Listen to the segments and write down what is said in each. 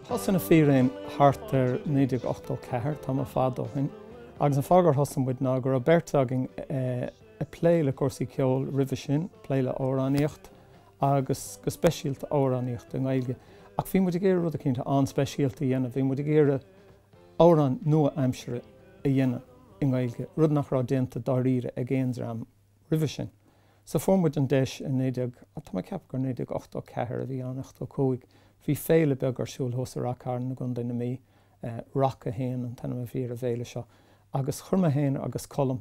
Thosaigh Na Fíréin thart ar 1984, tamall fada ó shin, agus an fáth gur thosaigh muid ná go raibh beirt againn ag plé le cúrsaí ceoil roimhe sin, plé le amhránaíocht. agus go speisialta amhránaíocht i nGaeilge. Ach bhí muid ag iarraidh rud éicint an-speisialta a dhéanamh, bhí muid ag iarraidh amhráin nua-aimseartha a dhéanamh i nGaeilge, rud nach raibh déanta dáiríre ag aon dream roimhe sin. So fuair muid an deis i naoi déag, tá mé ag ceapadh gur naoi déag ochtó ceathair a bhí ann, ochtó cúig, bhí féile beag ar siúl thuas i Ráth Cairn i gContae na Mí, Rac a hAon an t-ainm a bhí ar an bhféile seo, agus chuir mé féin agus Colm,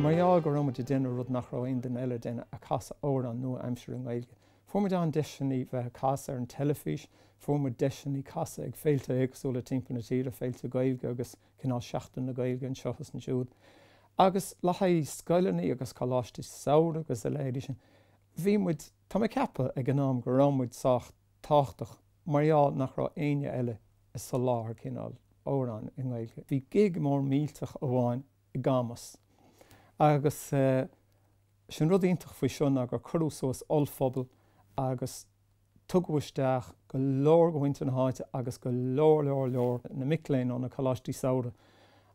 Mar gheall go raibh muid ag déanamh rud nach raibh aon duine eile ag déanamh, ag casadh amhráin nua-aimseartha i nGaeilge, fuair muid an-deiseannaí bheith ag casadh ar an teilifís, fuair muid deiseannaí casadh ag féilte éagsúla timpeall na tíre, féilte Gaeilge agus cineál Seachtain na Gaeilge anseo agus ansiúd. Agus le haghaidh scoileannaí agus coláistí samhraidh agus a leithéidí sin, bhí muid. Tá mé ag ceapadh ag an am go raibh muid sách tábhachtach mar gheall nach raibh éinne eile a' soláthar cineál amhrán i nGaeilge. Bhí gig mór millteach amháin i gCamus agus is é an rud iontach faoi seo ná gur cuireadh suas ollphuball agus tugadh isteach go leor de mhuintir na háite agus go leor, leor, leor na mic léinn ó na coláistí samhraidh.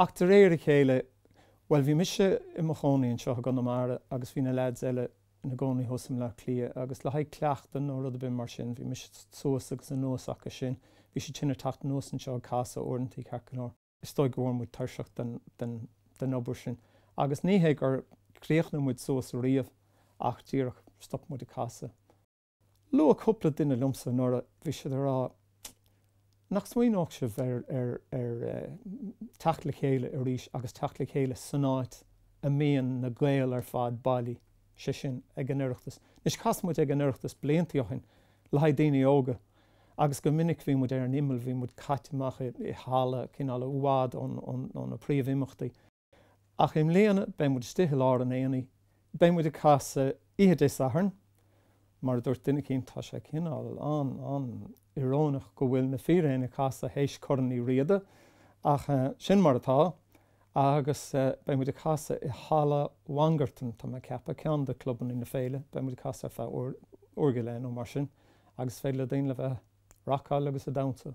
Ach de réir a chéile, bhuel, bhí mise i mo chónaí anseo i gConamara agus bhí na leaids eile ina gcónaí thuas i mBleá Cliath agus le haghaidh cleachtadh nó rud ar bith mar sin, bhí mise suas agus anuas acu sin, bhí siad sin ag teacht anuas anseo ag casadh uaireantaí, ceart go leor. Is dóigh go bhfuair muid tuirseach den obair sin agus ní hé gur chríochnaigh muid suas ariamh ach díreach stop muid ag casadh. Luaigh cúpla duine liomsa anuraidh, bhí siad ag rá nach smaoineodh sibh ar teacht le chéile arís agus teacht le chéile san áit a mbíonn na Gaeil ar fad bailí, sé sin, ag an Oireachtas. Anois, chas muid ag an Oireachtas bliantaí ó shin le haghaidh daoine óga agus go minic bhí muid ar an imeall, bhí muid caite amach i halla cineál i bhfad ó na príomhimeachtaí. Ach i mbliana beidh muid istigh i lár an aonaigh. Beidh muid ag casadh oíche Dé Sathairn. Mar a dúirt duine eicínt, tá sé cineál, an-, an-íorónach go bhfuil Na Fíréin ag casadh théis Corn Uí Riada, ach sin mar atá. Agus beidh muid ag casadh i Halla Mhangartan, tá mé ag ceapadh, ceann de clubanna na féile. Beidh muid ag casadh ar feadh uair, uair go leith nó mar sin agus is féidir le daoine a bheith a' racáil agus a' damhsa.